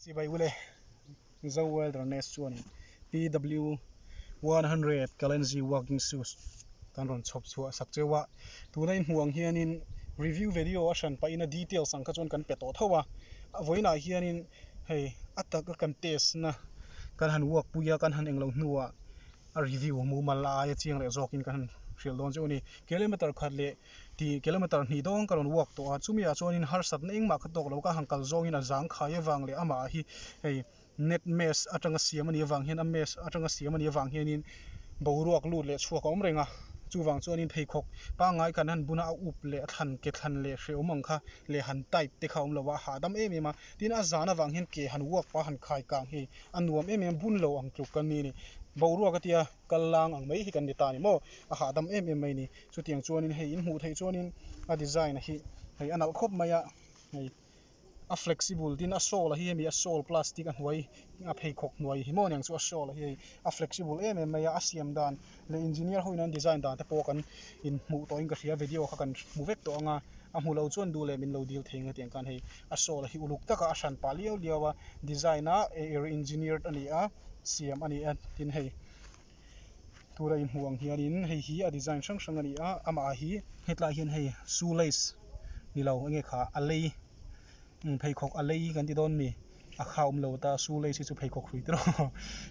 Chibai ule, Mizo Wilderness chuan PW 100 Kalenji Walking Shoes kan rawn chhawp chhuah sak cheu a, tuna in hmuh ang hianin review video a hran pahin a details ang kha chuan kan pe tawh tho a, a vawiinah hianin hei a taka kan test na kan han uak pui a, kan han englo hnuah a review mumal a aia chiang leh zawkin kan han hrilh dawn chu a ni, kilometre khat leh. Ti kilometer hnih dawng ka rawn uak tawh a, chumi ah chuan in harsatna engmah ka tawk lo, ka han kal zawng in a zang khai avang leh amah hi hei net mess atanga siam ani avang hian a mess atanga siam ani avang hian in boruak lut leh chhuak a awm reng a, chuvang chuan in pheikhawk pangngai khan han bun a, a up leh a thlan ke thlan leh hreum ang kha leh han type te kha a awm lo a, a hahdam em em a, tin a zan avang hian ke han uak pa han khai kang hi a nuam em em a, bun lo ang tluk kan nih a ni, boruak atia kal lang ang mai hi kan ni ta ni maw, a hahdam em em mai a ni. Chutiang chuanin hei in hmuh theih chuanin a design hi hei a nalh khawp mai a, hei a flexible tin a shawl a hi hemi a shawl plastic a hnuai a pheikhawk hnuai hi maw niang chu a shawl a hi hei a flexible em em mai a, a siam dan leh engineer ho ina design dan te pawh kan in hmuh tawhin ka hria video kha kan hmu vek tawh anga a hmu lo chuan duh leh min lo dil thei ang hetiang khan hei a shawl a hi uluk taka a hran pah liau liau a design a engineered a ni a siam a ni a tin hei. tura inhmuh ang hianin hei hi a design hrang hrang a ni a amah hi hetlai hian hei shoe lace ni lo eng nge kha a lei pheikhawk a lei kan ti dawn a ni a kha awm lo ta shoe lace hi chu pheikhawk hrui te rawh a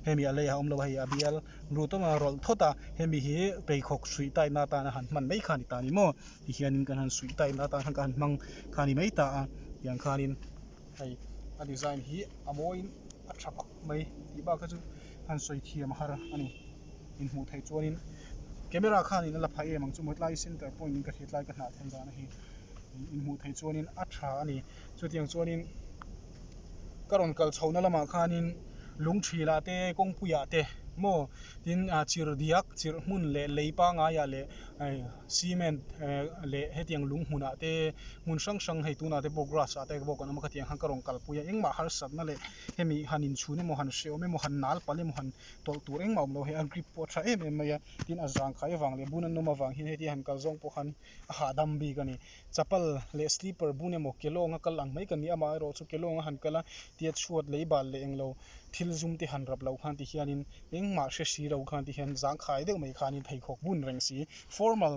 hemi a lei a awm lo a hei a bial ru tawng a rawlh thawt a hemi hi pheikhawk hrui tai na atana han hman mai kha a ni ta ni maw tihianin kan han sawi tai na atan khan ka han hmang kha a ni mai ta a tiang khanin hei a design hi a mawiin a tha bawk. mai tih bakah chuan han sawi thiam a har a ni. Inhmuh theih chuanin camera khanin a la phai em ang chu mawtlai center point in ka hriatlai ka hnah thei dahna hi inhmuh theih chuanin a tha a ni. Chutiang chuanin ka rawn kal chhohna lamah khanin Lungthrilah te Kawngpuiah te maw tin chirh diak chirh hmun leh lei pangaiah leh cement leh hetiang lung hmunah te hmun hrang hrang hei tunah te pawh grass ah te pawh kan awm a khatiang khan ka rawn kalpui a engmah harsatna leh-- Hemi han inchhun emaw, han hreawm emaw, han nal pal emaw han tawlh tur engmah a awm lo. Hei a grip pawh a tha em em mai a. Tin a zang khai avang leh bun a nawm avang hian hetiang han kal zawng pawh khan a hahdam bik a ni. Chapal leh slipper bun emaw kelawnga kal ang mai ka ni. Amah erawh chu kelawnga han kal a tia chhuat lei bal leh englo thilzum te han rap lo khan ti hianin engmah hre si lo khan ti hian zang khai deuh mai khanin pheikhawk bun reng si formal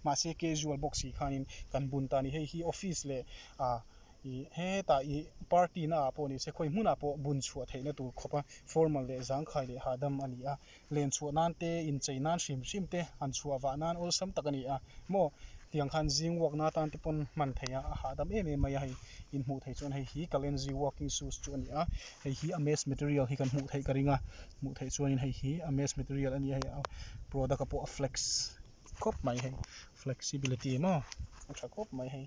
mahse casual bawk si khanin kan bun ta a ni. Hei hi office leh ah I, Hetah i party na ah pawh ni se, khawi hmun ah pawh bun chhuah theih na tur khawpa formal leh zangkhai leh hahdam a ni a. Len chhuah nan te, in chei nan hrim hrim te han chhuah vah nan awlsam tak a ni a maw tiang khan zing work na atan te pawn hman thei a, a hahdam em em mai a. Hei in hmuh theih chuan hei hi Kalenji working shoes chu a ni a, hei hi a mess material hi kan hmuh theih ka ring a, hmuh theih chuan in hei hi a mess material a ni a, hei a product a pawh a flex khawp mai hei flexibility maw a tha khawp mai hei.